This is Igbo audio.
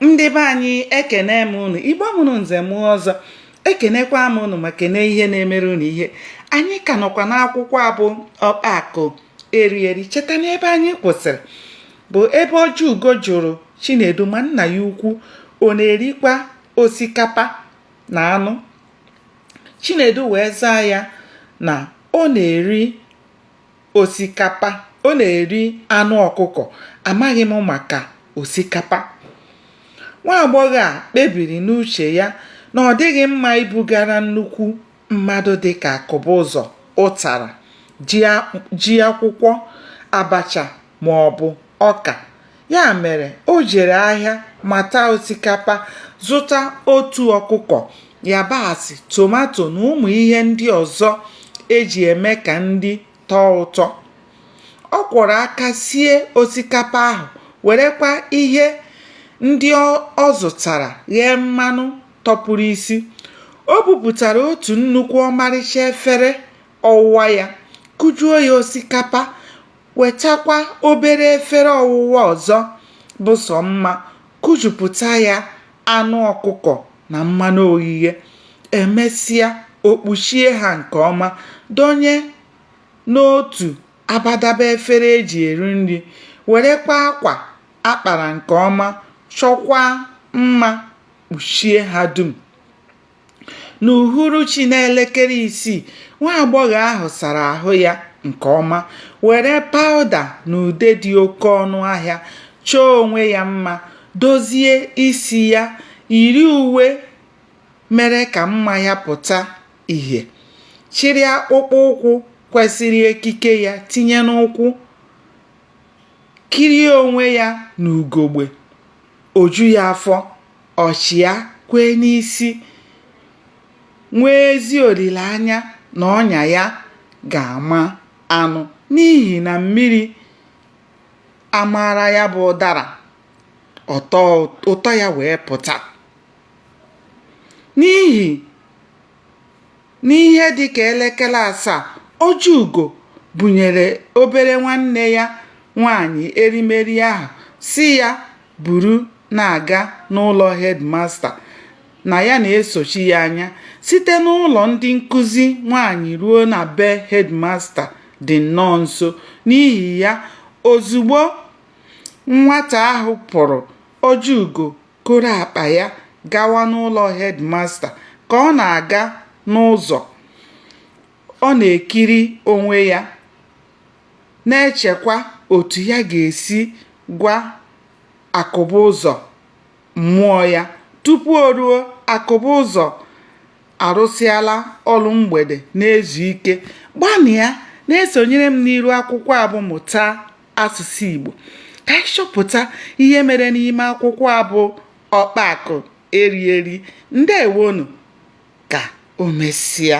ndị be anyị ekene m unu igbo mụrụ nze mụọ ọzọ ekenekwa m unu ma kene ihe na-emere unu ihe anyị ka nọkwa n'akwụkwọ a bụ ọkpa akụ eri eri cheta na ebe anyị kwụsịrị bụ ebe ojiugo jụrụ chinedu ma nna ya ukwu ọ na-erikwa osikapa na anụ chinedu wee zaa ya na ọ na-eri osikapa ọ na-eri anụ ọkụkọ amaghị m maka osikapa nwa agbọghọ a kpebiri n'uche ya na ọ dịghị mma ibugara nnukwu mmadụ dị ka akụbụzọ ụtara ji akwụkwọ abacha ma ọ bụ ọka Ya mere, o jere ahịa mata osikapa, zụta otu ọkụkọ, yabasị, tomato na ụmụ ihe ndị ọzọ e ji eme ka nri tọọ ụtọ. Ọ kwọrọ aka sie osikapa ahụ, werekwa ihe ndị ọ zụtara ghee mmanụ tọpụrụ isi. O bupụtara otu nnukwu ọmarịcha efere ọwụwa ya, kụjuo ya osikapa, wetakwa obere efere ọwụwa ọzọ bụ sọ mma kụjupụta ya anụ ọkụkọ na mmanụ oghighe e mesịa o kpuchie ha nke ọma donye n'otu abadaba efere e ji eri nri werekwa akwa a kpara nke ọma chọkwaa mma kpuchie ha dum n'uhuruchi n'elekere isii nwa agbọghọ ahụ sara ahụ ya nke ọma were pawụda na ude dị oke ọnụ ahịa chọọ onwe ya mma dozie isi ya yiri uwe mere ka mma ya pụta ìhè chịrị akpụkpọ ụkwụ kwesịrị ekike ya tinye n'ụkwụ kirie onwe ya n'ugogbe o ju ya afọ ọ chịa kwee n'isi nwee ezi olileanya na ọnya ya ga-ama anụ n'ihi na mmiri amaara ya bụ ụdara ụtọ ya wee pụta n'ihi N'ihe dị ka elekere asaa, Ojiugo bunyere obere nwanne ya nwaanyị erimeri ahụ sị ya buru na-aga n'ụlọ hedmasta na ya na-esochi ya anya. Site n'ụlọ ndị nkụzi nwaanyị ruo na be hedmasta dị nnọọ nso. N'ihi ya, ozugbo nwata ahụ pụrụ, Ojiugo koro akpa ya gawa n'ụlọ hedmasta ka ọ na-aga n'ụzọ ọ na-ekiri onwe ya na-echekwa otu ya ga-esi gwa Akụbụzọ mmụọ ya tupu o ruo Akụbụzọ arụsịala ọrụ mgbede na-ezu ike gbanịa na-esonyere m n'iru akwụkwọ a bụ mụta asụsụ Igbo ka anyị chọpụta ihe mere n'ime akwụkwọ a bụ Ọkpa Akụ Eri Eri ndewo nụ ka o mesịa